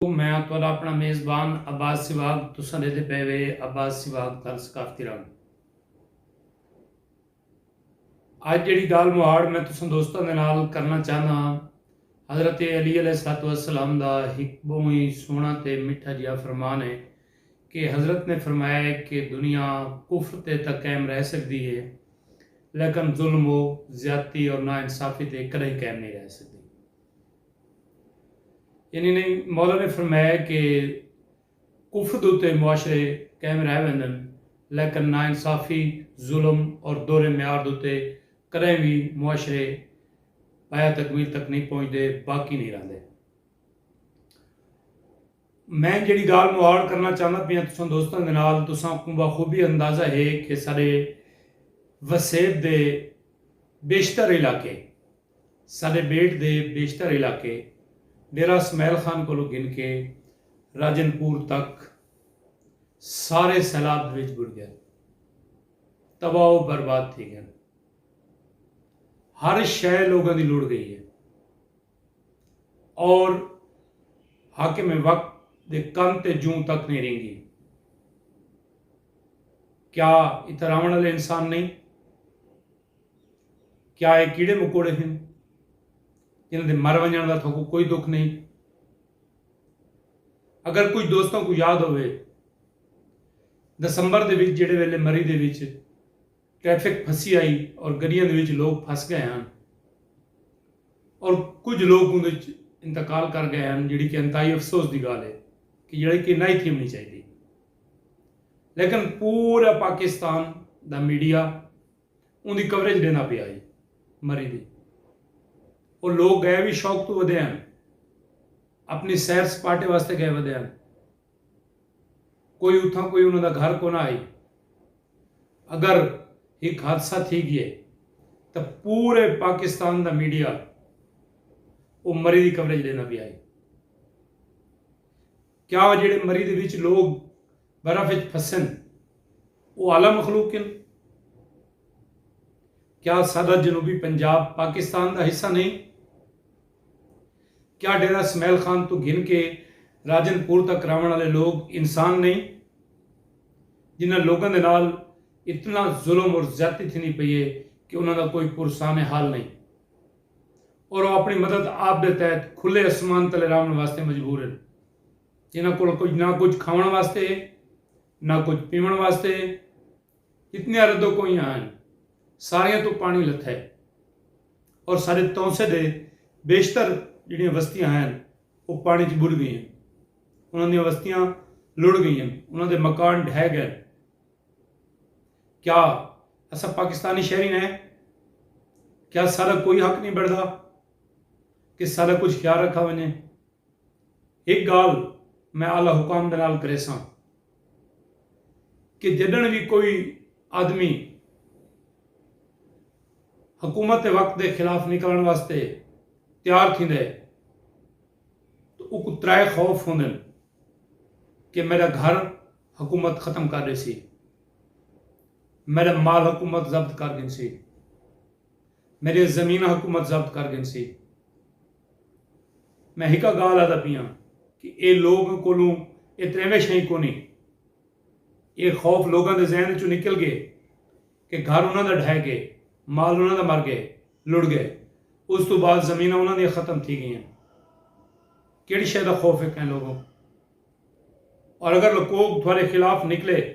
میں ہاں تہاڈا اپنا میزبان عباس سواگ تساں ڈیدھے پئے وے عباس سواگ تھل ثقافتی رنگ اج جڑی گال مہاڑ میں تساں دوستاں دے نال کرنا چاہنا ہاں حضرت علی علیہ الصلوۃ والسلام دا ایک بہت ہی سونا تے میٹھا جیا فرمان ہے کہ حضرت نے فرمایا ہے کہ دنیا کفر تے تا قائم رہ سکدی ہے لیکن ظلم و زیادتی اور نا انصافی تے کدی قائم نہیں رہ سکدی یعنی نئیں مولا نے فرمایا کہ کفر دے اتے معاشرے قائم رہ ویندن لیکن ناانصافی، ظلم اور دورے معیار دے اتے کدائیں وی معاشرے پایہ تکمیل تک نئیں پہنچدے، باقی نئیں رہندے۔ میں جیڑھی گالھ مواڑ کرنا چاہندا پیاں تساں دوستاں دے نال تساں کوں بخوبی اندازہ ہے کہ ساڈے وسیب دے بیشتر علاقے ساݙے ٻیٹ دے بیشتر علاقے ݙیرہ اسماعیل خان کولوں گھن کے راجن پور تک سارے سیلاب دے وچ ٻݙ ڳئن۔ تباہ و برباد تھی ڳئن۔ ہر شئے لوگاں دی لڑ ڳئی ہے اور حاکم وقت دے کن تے جوں تک نئیں رینگی۔ کیا اتھاں رہوݨ آلے انسان نئیں؟ کیا اے کیڑے مکوڑے ہن جنہاں دے مر ونجن دا تھوکو کوئی دکھ نہیں اگر کچھ دوستوں کو یاد ہوئے دسمبر دے وچ جڑے ویلے مری دے وچ ٹریفک پھسی آئی اور گڑیاں دے وچ لوگ پھس گئے ہن اور کچھ لوگ اندے وچ انتقال کر گئے ہن جڑی کہ انتہائی افسوس دی گال ہے کہ جڑی کہ نہ ہی تھی ہونی چاہیے لیکن پورا پاکستان دا میڈیا اوندی کوریج ڈیندا پیا ہئی۔ مری دی۔ او لوک گئے وی شوق توں ودے ہن۔ اپنی سیر سپاٹے واسطے گئے ودے ہن۔ کوئی اتھاں کوئی انہاں دا گھر کونا ہئی۔ اگر ہک حادثہ تھی گئے تاں پورے پاکستان دا میڈیا او مری دی کوریج ڈیندا پیا ہئی۔ کیا او جیڑھے مری دے وچ لوک برف اچ پھسن او اعلی مخلوق ہن۔ کیا ساڈا جنوبی پنجاب پاکستان دا حصہ نہیں؟ کیا ڈیرہ اسماعیل خان توں گھن کے راجن پور تک راونڑ آلے لوگ انسان نہیں؟ جنہاں لوگاں دے نال اتنا ظلم اور زیادتی تھیندی پئی ہے کہ انہاں دا کوئی پرسان حال نہیں اور او اپنی مدد آپ دے تحت کھلے اسمان تلے راونڑ واسطے مجبور ہن۔ انہاں کول کجھ نہ کجھ کھاوݨ واسطے ہے نہ کجھ پیوݨ واسطے ہے کتنیاں ردو کوئیاں ہن ساریاں تو پانی لتھا ہے اور سارے تونسے دے بیشتر جڑیاں وستیاں ہن وہ پانی چ بڑھ گئی ہیں انہاں دیاں وستیاں لڑ گئی ہیں انہاں دے مکان ڈھہ گئے کیا اسا پاکستانی شہری نے کیا سارا کوئی حق نہیں بڑھتا کہ سارا کچھ خیال رکھا ونجے ہک گالھ میں اعلی حکام دے نال کریساں کہ جڈن وی کوئی آدمی حکومت وقت دے خلاف نکلن واسطے تیار تھیندے تو اوکوں ترائے خوف ہوندن کہ میڈا گھر حکومت ختم کر ڈیسی میڈا مال حکومت ضبط کر گھنسی میݙیاں زمیناں حکومت ضبط کر گھنسی۔ میں ہکا ڳالھ آہدا پیاں کہ ایہ لوک کولوں ایہ تریمش ہئی کونی۔ ایہ خوف لوکاں دے ذہن وچوں نکل ڳئے کہ گھر انہاں دا ڈھہہ ڳئے، مال انہاں دا مر ڳئے، لڑ ڳئے۔ اس توں بعد زمیناں انہاں دیاں ختم تھی ڳئیاں۔ کیڑھی شے دا خوف ہے کہیں لوکوں؟ اور اگر لکوک تھوڑے خلاف نکلے۔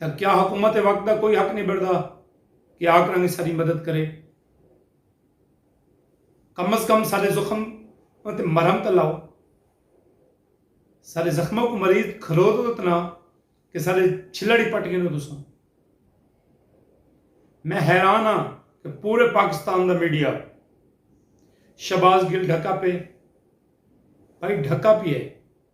تاں کیا حکومت وقت دا کوئی حق نئیں بنڑدا کہ آ کراں گے ساڈی مدد کرے کم از کم ساڈے زخم تے مرہم تاں لاؤ ساڈے زخماں کو مریض کھلو تو تنا کہ ساڈے چھلڑ ہی پٹ گئے تساں میں حیران ہاں کہ پورے پاکستان دا میڈیا شباز گل ڈھکا پہ بھائی ڈھکا پی ہے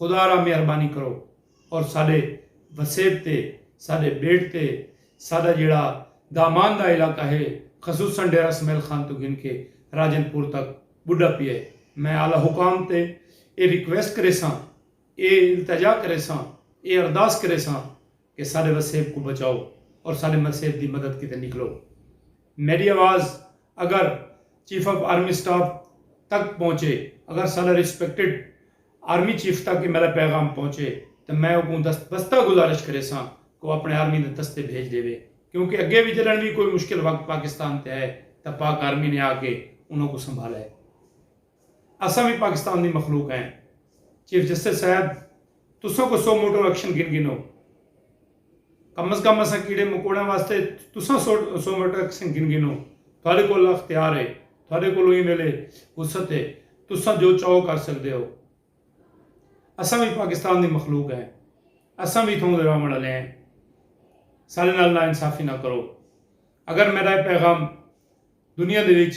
خدا را مہربانی کرو اور ساڈے وسیب تے ساڈے بیٹ تے ساڈا جیڑھا دامان دا علاقہ ہے خصوصا ڈیرہ سمیل خان توں گھن کے راجن پور تک بڈھا پیا ہے میں اعلی حکام تے اے ریکویسٹ کریساں اے التجا کریساں اے ارداس کریساں کہ ساڈے وسیب کوں بچاؤ اور ساڈے مسیب دی مدد کیتے نکلو۔ میڈی آواز اگر چیف آف آرمی سٹاف تک پہنچے، اگر ساڈا ریسپیکٹڈ آرمی چیف تک اے میڈا پیغام پہنچے تاں میں اوکوں دست بستہ گزارش کریساں کہ او اپنے آرمی دے دستے بھیج ڈیوے کیونکہ اگے وی جڈن وی کوئی مشکل وقت پاکستان تے آئے تاں پاک آرمی نے آ کے انہاں کوں سنبھالا ہے۔ اساں وی پاکستان دی مخلوق ہیں۔ چیف جسٹس صاحب تساں کو سو موٹر ایکشن گھن گھنو۔ کم از کم اساں کیڑے مکوڑیاں واسطے تساں سو موٹر ایکشن گھن گھنو۔ تھوڑے کول اختیار ہے۔ تھوڑے کولوں ایں ویلے وسعت ہے۔ تساں جو چاہو کر سکدے ہو۔ اساں وی پاکستان دی مخلوق ہیں۔ اساں وی اتھاؤں دے رہوݨ آلے ہیں۔ ساڈے نال ناانصافی نہ کرو۔ اگر میڈا اے پیغام دنیا دے وچ